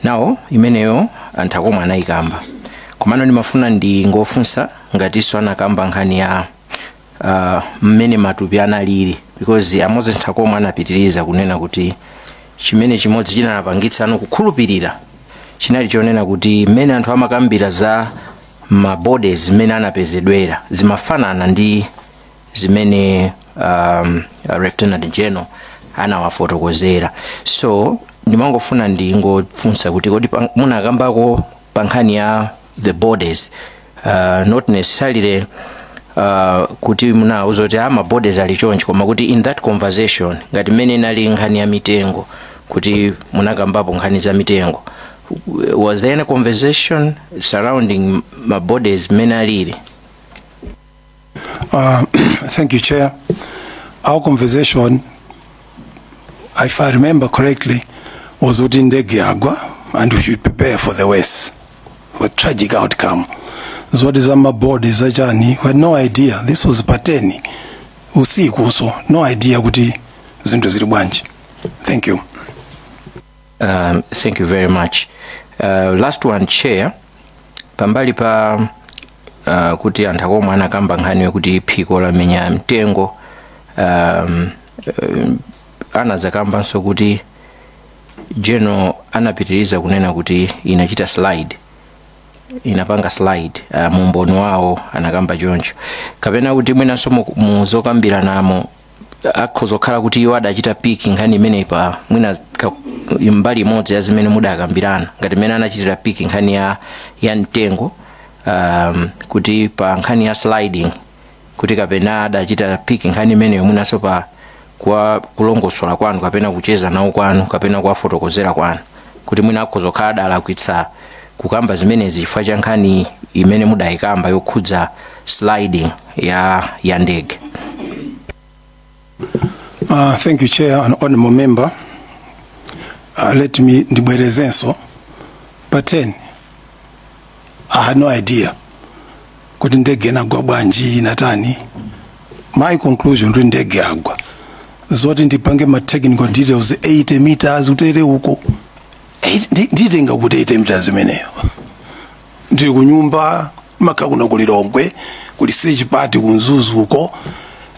now imeneyo a Nthakomwa anayikamba komano ndimafuna ndingofunsa ngatinso anakamba nkhani ya uh, mmene matupi analili because a Moses Nthakomwa anapitiriza kunena kuti chimene chimodzi chinapangitsa anthu kukhulupirira chinali chonena kuti mmene anthu amakambira za mabodies mmene anapezedwera zimafanana ndi zimene um, lieutenant general anawafotokozera so ndimangofuna ndingofunsa kuti kodi pa- munakambako pa nkhani ya the bodies uh, not necessarily uh, kuti munauza kuti ma bodies ali chonchi koma kuti in that conversation ngati mmene inali nkhani ya mitengo kuti munakambapo nkhani za mitengo was there any conversation surrounding ma bodies mmene alili Uh, thank you, Chair. Our conversation, if I remember correctly, was kuti ndege yagwa and we should prepare for the worst, for tragic outcome. Zoti za mabodi za chani, we had no idea. This was pateni usiku, so no idea kuti zinthu zili bwanji. Thank you. Um, thank you very much. Uh, last one chair pambali pa uh, kuti a Nthakomwa anakamba nkhani yokuti phiko lamenya mtengo um, um, anazakambanso kuti general anapitiriza kunena kuti inachita slide inapanga slide uh, mu umboni wawo anakamba choncho kapena kuti mwinanso mu- muzokambiranamo akhoza kukhala kuti iwo adachita piki nkhani imeneyi pa mwina ka- mbali imodzi ya zimene mudakambirana ngati mmene anachitira piki nkhani ya, ya mtengo um, kuti pa nkhani ya sliding kuti kapena adachita piki nkhani imeneyo mwinanso pa kwa kulongosola kwanu kapena kucheza nawo kwanu kapena kuwafotokozera kwanu kuti mwina akhoza kukhala adalakwitsa kukamba zimenezi chifukwa cha nkhani imene mudayikamba yokhudza sliding ya ya ndege Uh, thank you, Chair and Honorable Member. Uh, let me ndibwerezenso pa 10 I had no idea kuti ndege inagwa bwanji inatani my conclusion kuti ndege yagwa zoti ndipange ma technical details 80 meters utere uko Eh, ndi- nditenga kuti 80 meters imeneyo ndili kunyumba maka kuno ku lilongwe kuli search party ku mzuzu uko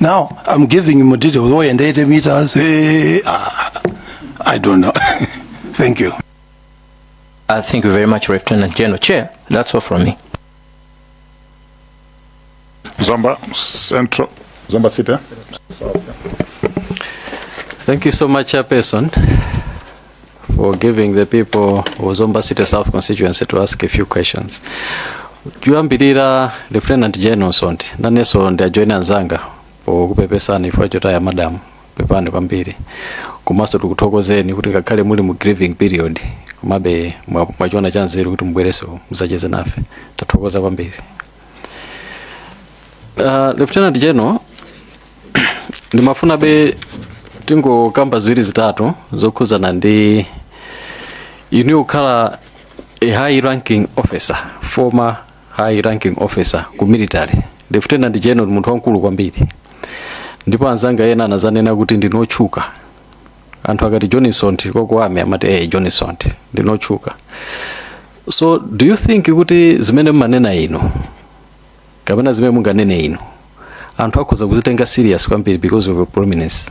now i'm giving him details oh and 80 meters hey, ah, i don't know thank you Uh, thank you very much, Lieutenant General. Chair, that's all from me. Zomba Central, Zomba City. eh? Thank you so much, Chairperson, for giving the people of Zomba City South constituency to ask a few questions. Kuyambirira Lieutenant General Sonti, nanenso ndiajoyina anzanga pokupepesani ifo chotaya madam pepani kwambiri komanso tikuthokozeni kuti ngakhale muli mu grieving period komabe mwa- mwachiona cha nzeru kuti mubwerenso muzacheze nafe tathokoza kwambiri uh, lieutenant general ndimafunabe tingokamba ziwiri zitatu zokhudzana ndi inu yokhala a high ranking officer former high ranking officer ku military lieutenant general munthu wamkulu kwambiri ndipo anzanga ena anazanena kuti ndinotchuka anthu akati John Msonthi wa ku army amati eh John Msonthi ndinotchuka so do you think kuti zimene mumanena inu kapena zimene munganene inu anthu akhoza kuzitenga serious kwambiri because of your prominence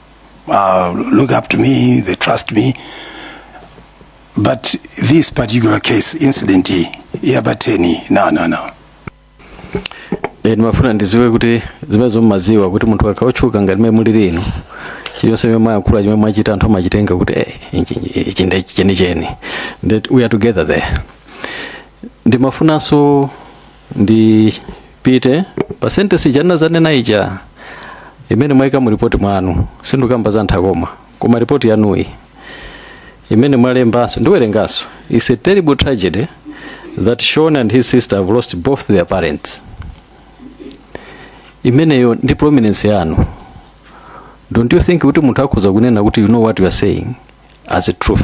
uh, look up to me, they trust me. But this particular case, incident hii ya Bateni, no, no, no. E, ndimafuna ndiziwe kuti zimenezo mmaziwa kuti munthu akakhala otchuka ngati mmene mulili ino chiyonse chimene mwayankhula chimene mwachita anthu amachitenga kuti eh, ichi- ichi- ichi ndi chenicheni that we are together there ndimafunanso ndipite pa sentesi ija ndinanena ija imene mwayika mu ripoti mwanu sindikukamba za nthakoma koma ripoti yanuyi imene mwalembanso ndiwerenganso is a terrible tragedy that shon and his sister have lost both their parents imeneyo ndi prominence yanu don't you think kuti munthu akhoza kunena kuti you know what you are saying as a truth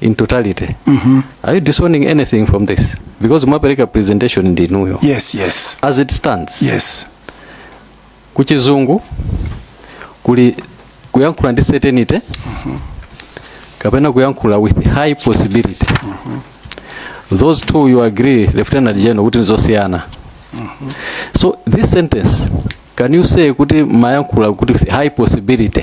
in totality mm -hmm. are you disowning anything from this because mwapereka presentation ndi inuyo yes yes as it stands yes kuchizungu kuli kuyankhula ndi certainty mm -hmm. kapena kuyankhula with high possibility mm -hmm. those two you agree lieutenant general kuti nizosiyana mm -hmm. so this sentence can you say kuti mayankhula kuti with high possibility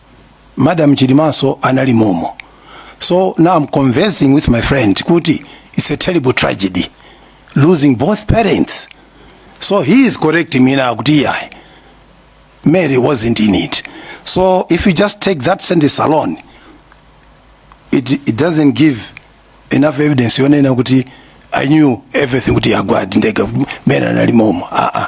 madam chilimanso anali momo so now i'm conversing with my friend kuti it's a terrible tragedy losing both parents so he is correcting me now kuti yayi mary wasn't in it so if you just take that sentence alone it, it doesn't give enough evidence yonena kuti i knew everything kuti yagwadi ndega mary anali momo aa uh -uh.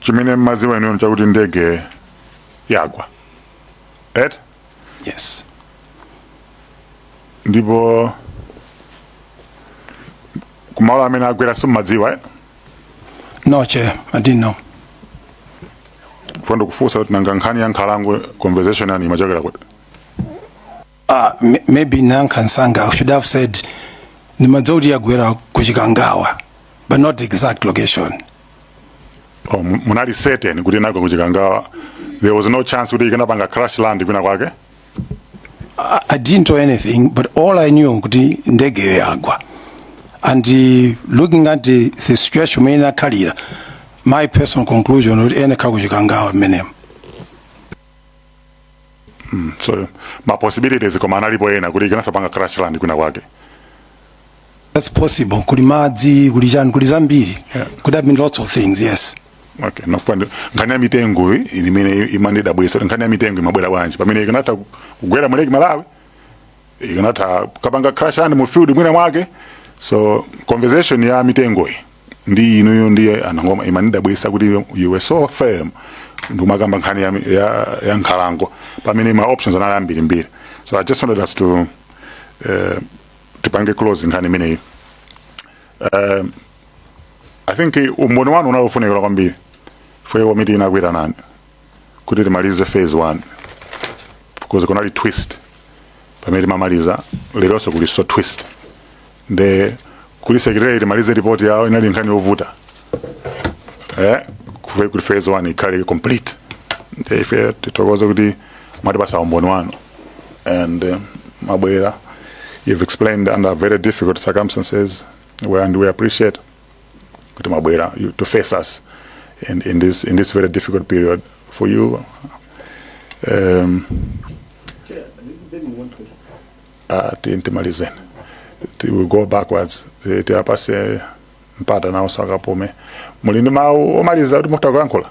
chimene mmaziwa inuyo chakuti ndege yagwa right yes ndipo kumalo amene yagwera simmadziwa eh? no chair i didn't know funa ndikufunse kuti nanga nkhani ya nkhalango conversation yanu imachokera kuti Ah, m- maybe nakhapsangah I should have said ndimadziwa kuti yagwera kuChikangawa, but not the exact location. Oh, mu- munali certain kuti nako kuchikangawa there was no chance kuti ikanapanga crash land kwina kwake I, I didn't know anything, but all I knew kuti ndege yagwa. And uh, looking at the, the situation mmene inakhalira, my personal conclusion kuti ndi kuChikangawa mmenemo. Mm, so ma possibilities koma analipo ena kuti ikanatha panga crash land kwina kwake that's possible kuli madzi kuli chani kuli zambiri Yeah. could have been lots of things yes okay ndafuna ndi- nkhani ya mitengo iyi ili imene imandidabwisa kuti nkhani ya mitengo imabwera bwanji pamene ikanatha ku- kugwera mu Lake Malawi ikanatha kupanga crash land mu field mwina mwake so conversation ya mitengo iyi ndi inuyo ndiye anangoma imandidabwisa kuti you were so firm ndikumakamba nkhani ya, ya, ya nkhalango pamene ma options anali ambirimbiri so i just wanted us to uh, tipange close nkhani imeneyi uh, i think umboni wanu unali ofunikira kwambiri pomwe komiti inakuitanani kuti timalize phase 1 because kunali twist pamene timamaliza leronso kulinso twist nde kuli secretary timalize report yawo inali nkhani yovuta eh kuve kuti phase 1 ikhale complete nde ife tithokoze kuti mwatipasa umboni wanu and um, mabwera you've explained under very difficult circumstances and we appreciate kuti mwabwera you- to face us in, in, this, in this very difficult period for you um, uh, ti- timalizeni Ti- we go backwards Ti- tiwapase mpata nawo akapume muli ndi mawu omaliza kuti mukutha kuyankhula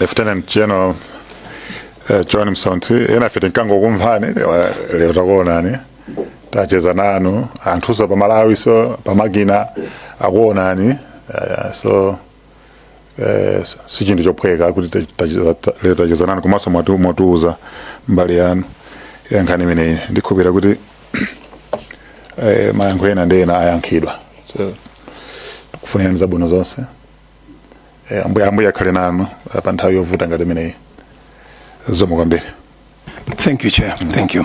Lieutenant General eh, John Msonthi enafe timangokumvani eh, lero takuonani tacheza nanu anthunso pa Malawi nso pamakina akuonani eh, so eh, s- si chinthu chophweka kuti ta- tacheza- ta- lero tacheza nanu komanso mwatu- mwatiuza mbali yanu ya nkhani imeneyi ndikhulupirira kuti eh, mayankho ena ndi ena ayankhidwa so kufunirani zabwino zonse e, ambuye ambuye akhale nanu eh, pa nthawi yovuta ngati imeneyi zikomo kwambiri Thank you, Chair. Thank you.